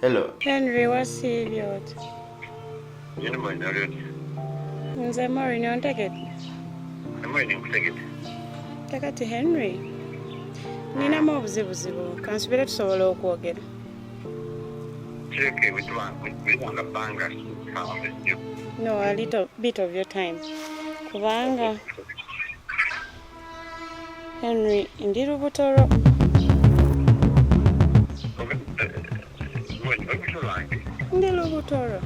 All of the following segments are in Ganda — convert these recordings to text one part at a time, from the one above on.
Hello. Henry wasiibye oti? Nyini manya oli oti? Nze Maureen ontegedde? Maureen nkutegedde. Kakati Henry, ninamu obuzibuzibu kansubire tusobola okwogera. Kireke witwanga bbanga kawambe nnyo. No, a little bit of your time. Kubanga Henry ndi lubuto lwo ndi lubuto lwo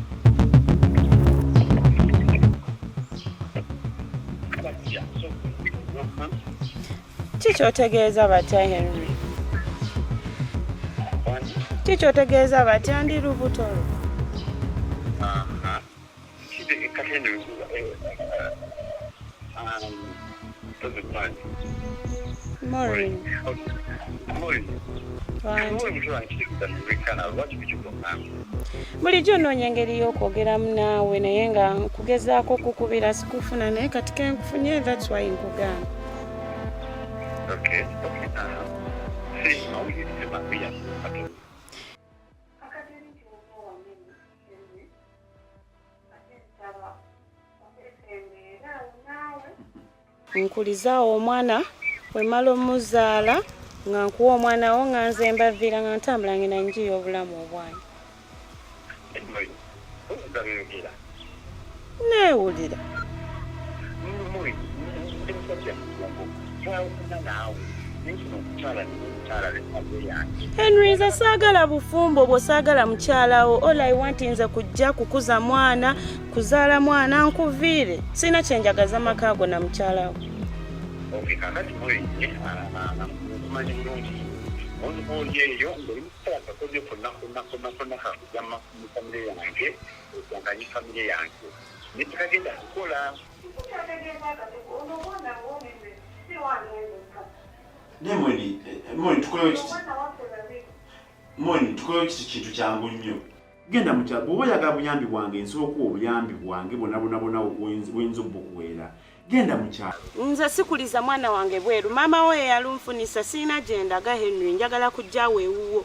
ki kyotegeeza batya Henry ki kyotegeeza batya ndi lubuto lwo Morning. Morning. bulijjo onoonya engeri y'okwogeramu naawe naye nga nkugezaako okukubira sikufuna naye kati kenkufunye thats why nkugamba nkulizaawo omwana wemala omuzaala nga nkuwa omwana wo nga nze mbaviira nga ntambula ngenda njiya obulamu obwange neewulira henry nze saagala bufumbo obwo saagala mukyalawo all i want nze kujja kukuza mwana kuzaala mwana nkuviire sirina kyenjagaza maka ago na mukyalawo olubooli eyo ngoli mukiseera kakoze konna konna konna konna kakujama mu famire yange okunganye famire yange nekikagenda kukola naye mweni eh, eh, mweni tukolewo kiti mweni tukolewo kiti kintu kyangu nnyo genda mukya bwoba oyagala buyambi bwange nsobola okuwa obuyambi bwange bonabonabona wenza obukuweera genda mukyalo nze sikuliza mwana wange bweru maama wo yeyalunfunisa sirina gyendaga henry njagala kujjawo ewuwo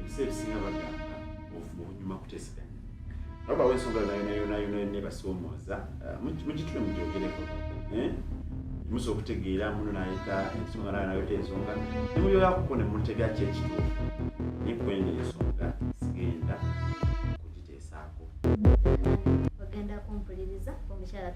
ebiseera ebisinga bagamba obuvumu bunyuma kuteeseganya naye bawo ensonga yonayonayona nebasoomooza eh, mugitule mugyogereko eh? musa okutegeera muno nayita ensonga nayo nayota ensonga nemuyoyakuko nemutega kyekituufu nekwenga ensonga sigenda kugite esaako ogenda kumpuliriza omukyala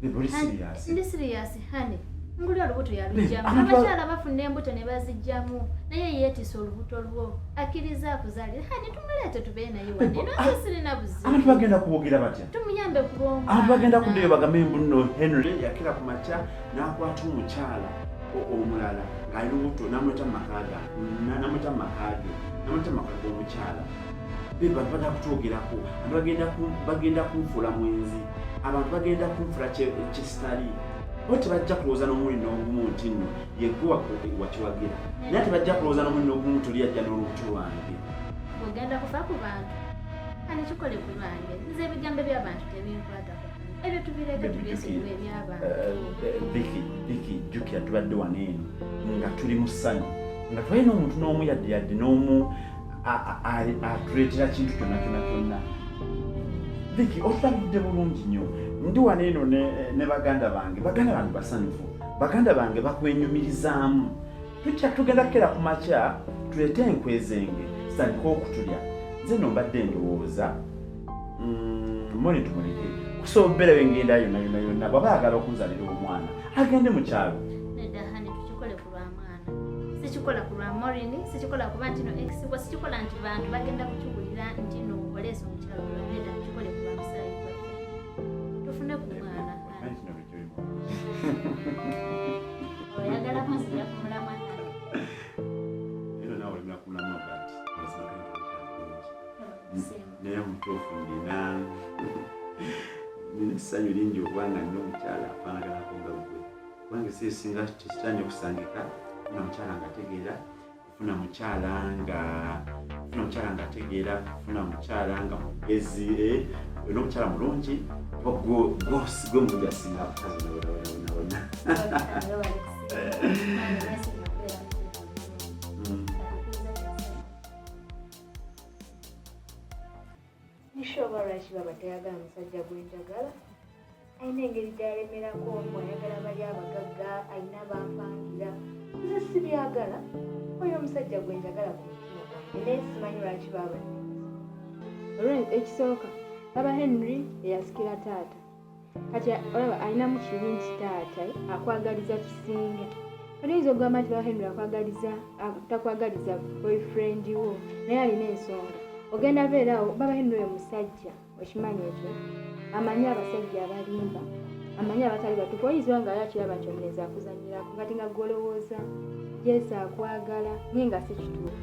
tulimusiriyasindi siriyasi hane nguli olubuto yalujjamu abakyala bafuna embuto ne bazijjamu naye yeetisa olubuto lwo akkiriza akuzalire hane tumuleete tubeere naye wanenasirina buzibantu bagenda kubogera batya tumuyambe kubonga abantu bagenda kuddeyo bagame mbuno henry yakira ku makya n'akwata omukyala omulala ng'ali lubuto n'amuleta mu maka gange namatama age namatama kaga omukyala bebantu bagenda kutwogerako antu bagenda kunfuula mwenzi abantu bagenda kunfula kyesitali bo tebajja kulowooza n'omulundi n'ogumu nti nno yegwe wakiwagira naye tebajja kulowooza n'omulundi n'ogumu tuli ajja n'olubuto lwange ogenda kufa ku bantu ani kikole ku lwange nze ebigambo by'abantu tebinkwatako ebyo tubireeta tubyesigula ebyabantu biki biki jjukira tubadde wano eno nga tuli mu ssanyu nga twalina omuntu n'omu yadde yadde n'omu atuleetera kintu kyonna kyonna kyonna biki otulabidde bulungi nnyo ndi wano eno ne baganda bange baganda bange basanyufu baganda bange bakwenyumirizaamu tukya tugenda kukera ku makya tuleete enkwezenge zitandika okutulya nze no mbadde ndowooza mm, moni tumuleke kusobola obeera wengenda yona yona yona bwaba ayagala okunzalira omwana agende mu kyalo sikikola ku lwa morin sikikola kuba ntino exibwa sikikola nti bantu bagenda kukiwulira ntino oleesa omukyalo naye omutuufu ndina nina essanyu lingi okuba nga nina omukyala afaanaganako nga gwe kubanga si esinga tekitanya okusangika nga mukyala nga ategeera funa mukyala nga funa mukyala nga ategeera funa mukyala nga mugezi eh, olina omukyala mulungi gwe mulungi asinga abakazi nawenawena Nisha oba lwaki baba tayagala musajja gwe njagala alina engeri gyalemerako omu ayagala bali abagagga alina bampangira nze sibyagala oyo omusajja gwe njagala ku mutima gwange naye simanyi lwaki baba ekisooka baba henry eyasikira taata kati olaba alinamu kibi nti taata akwagaliza kisinga kati oyinza okugamba nti baba henry akwagaliza takwagaliza boyfriend wo naye alina ensonga ogenda beerawo baba henry oyo musajja okimanyi ekyo amanyi abasajja abalimba amanyi abatali batuufu oyinza oba nga yakiraba nti omulenzi akuzanyirako kati nga gwolowooza jesi akwagala naye nga si kituufu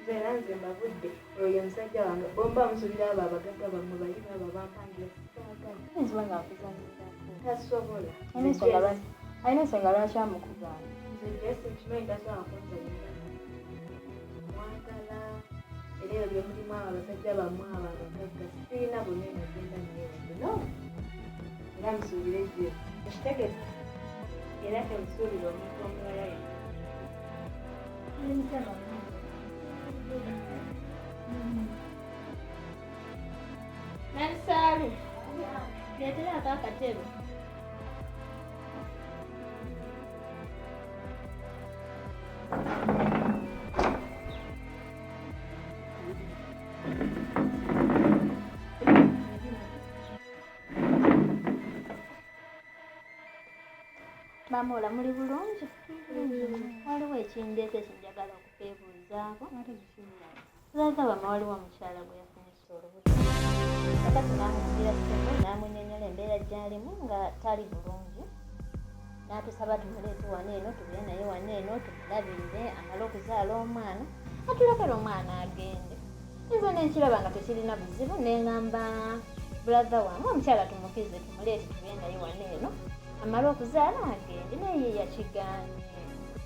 nze nanze mbavudde oyo musajja wange bomba musubira abo abagagga bamwe bali baabo bampangira sitaagala nga akuzanyira tasobola alina ensonga lwaki amukugamba nze jesi nkimanyi tasobola kunzanyira mwagala era ebyo byemulimu abo abasajja bamwe abo abagagga sirina bonna enagenda nyeeno era musuubire ejo ekitegeza era temusuubira omuntu omulala yena Nansaalu, leetera ako akatebe. Maama ola muli bulungi? Waliwo ekindeeta ekyo njagala okuteebuuzaako. Lwaza wama waliwo omukyala gwe yafunisa olubuto. Kakati n'amukugira ssimu n'amunyonyola embeera gy'alimu nga tali bulungi. N'atusaba tumuleete wano eno tubire naye wano eno tumulabirire amale okuzaala omwana atulekere omwana agende. Nze ne nkiraba nga tekirina buzibu ne ngamba bulaza wamu omukyala tumukize. muleeti tube naye wano eno amala okuzaala agende naye yeyakiganye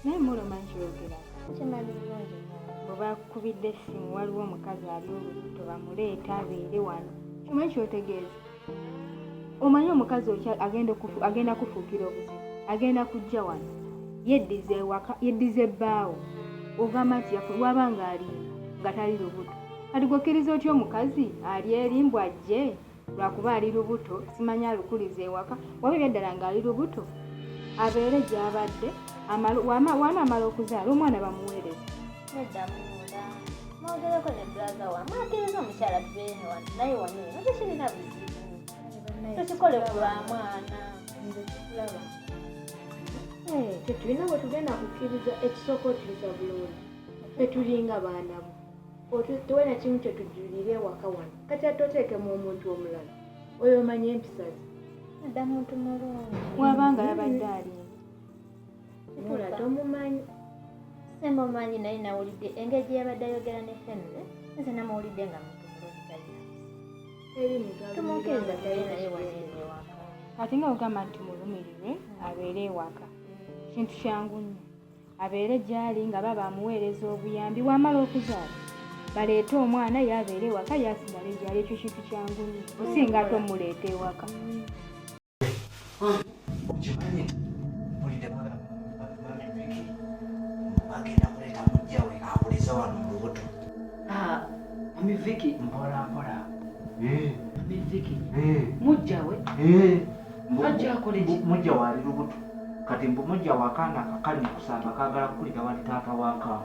naye muluma nkyogera kimanyi bulungi bwebakubidde essimu waliwo omukazi ali olubuto bamuleeta abeere wano kimanyi kyotegeeza omanyi omukazi oky agenda kufuukira obuzibu agenda kujja wano yeddiza ewaka yeddiza ebbaawo ogamba nti waba ng'ali nga tali lubuto kati gwokkiriza otya omukazi ali eri mbu ajje lwakuba ali lubuto simanyi alukuliza ewaka waba ebyaddala ng'ali lubuto abeere gy'abadde waanaamala okuzaala omwana bamuweereza mwogereko ne bulaza wamu ateeza omukyala tubeene wano naye wano eno tekirina buzibu tekikole ku lwa mwana nze kikulaba eh, tetulina bwe tugenda kukkiriza ekisooka okiriza bulungi tetulinga baana bo otuwe na kimu kye tujjulire ewaka wano kati atte oteekemu omuntu omulala oyo omanya empisa ze adda muntu mulungi waba nga yabadde ali mula tomumanyi simumanyi naye nawulidde engeri gye yabadde ayogera ne henry nze namuwulidde nga muntu mulungi tumukkiriza tali naye waneewaka ate nga ogamba nti mulumirirwe abeere ewaka kintu kyangu nnyo abeere gy'ali nga baba amuweereza obuyambi wamala okuzaala baleete omwana yabeera ewaka yasigale gyali ekyo kintu kyangu nyo osinga ate omuleeta ewaka mujjawe mujja waali lubuto kati mbu mujja wakaana akakali mukusamba kagala kukulira wali taata wakaana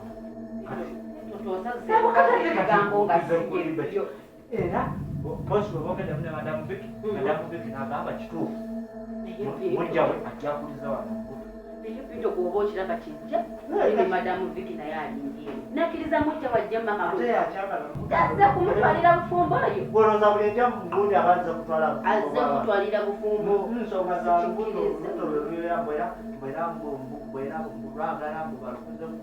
era bosi webogenda mune madamu biki madamu biki nagamba kituufu mujjawe ajjakuliza wano naye vido bwoba okiraba kijja ebe madamu viki naye alingie nakiriza mujja wajja makaazze kumutwalira bufumbo oyoazze kutwalira bufumbo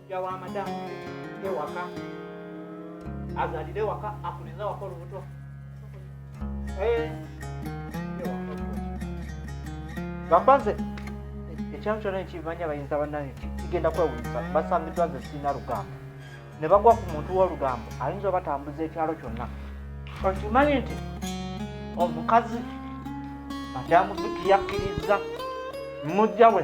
Mujja wa madamu ewaka azalire waka akuliza waka olubuto gamba nze ekyalo kyona ekivanya bayinza banange kigenda kwewunyisa basangiddwa nze sirina lugambo ne bagwa ku muntu w'olugambo ayinza obatambuza ekyalo kyonna okimanyi nti omukazi madamu vikiyakkiriza mujja we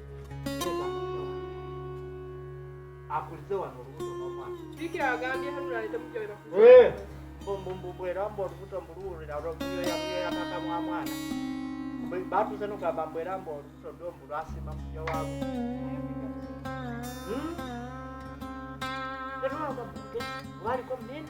akulize wano olubuto n'omwana bikira agambye hanulale temujja webakuze mbumbumbu era mbu olubuto mbuluwulira olwokuyoyakuyoyakaka mwa mwana batuze nogamba mbu era mbu olubuto lwo mbu lwasiima muja waabo hmm? waliko munene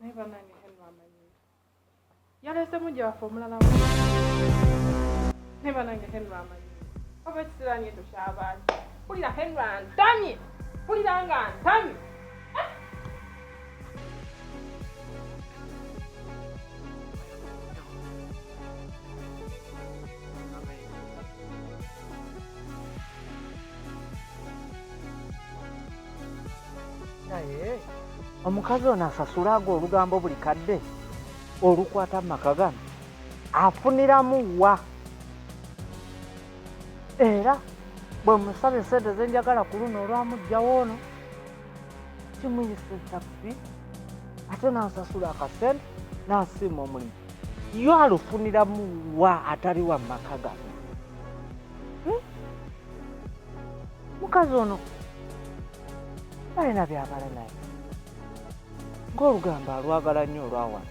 naye banange henry amanyi yalese mujja waffe omulala naye banange henry amanyi oba ekisirani ekyo kyabaani kulira henry antamye kulira nga antamye naye omukazi ono asasulaaga olugambo buli kadde olukwata mu maka gano afuniramu wa era bwe musaba esente zenjagala ku luno olwamugjawo ono kimuyisa ekyabbi ate nansasula akasente nasiima omulimu yo alufuniramu wa atali wa maka gano hmm? mukazi ono balina byabala naye ng'olugambo alwagala nnyo olwawana